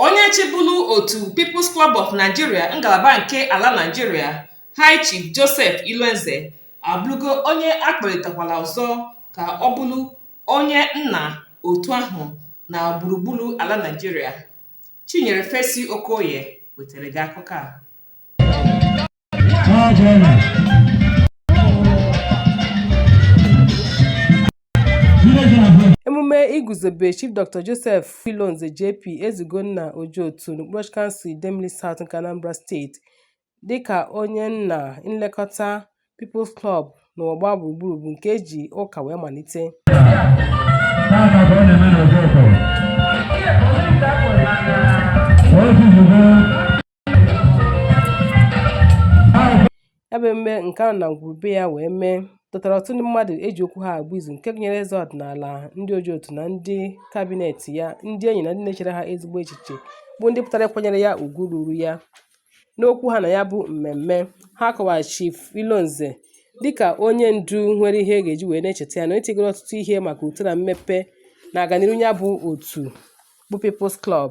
Onye chịburu otu People's Club of Nigeria ngalaba nke ala Nigeria, High Chief Joseph Ilonze abụrụgo onye akpọlitekwara ọzọ ka ọ bụrụ onye nna otu ahụ na gburugburu ala Nigeria. Chinyere Fesi Okoye wetara gị akụkọ a. emume iguzobe chief dr joseph ilonze jp ezeugonna ojoto n'okpuru ọchịchị kansụl idemili south nke anambra steeti dịka onye nna nlekọta people's club n'ụwa gbaa gburugburu bụ nke eji ụka wee malite ya bụ emume nke a nọ na ngwuru be ya wee mee dọtara ọtụtụ ndị mmadụ eji okwu ha agba izu nke gụnyere eze ọdịnala ndị Ojoto na ndị kabinet ya ndị enyi na ndị na-echere ha ezigbo echiche bụ ndị pụtara ịkwanyere ya ugwu ruru ya n'okwu ha na ya bụ mmemme ha kọwara chief ilonze dịka onye ndu nwere ihe a ga-eji wee na-echeta ya na onye tigoro ọtụtụ ihe maka uto na mmepe na aganiru ya bụ otu bụ People's Club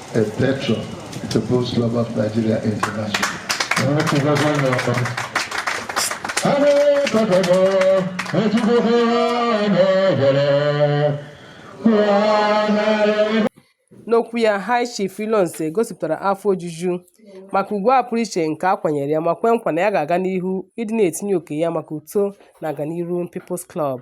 A patron to People's Club of Nigeria International. n'okwu ya high chief Ilonze gosipụtara afọ ojuju maka ugwu a pụrụ iche nke a kwanyere ya ma kwe nkwa na ya ga-aga n'ihu ịdị na-etinye oke ya maka uto na aganiru People's Club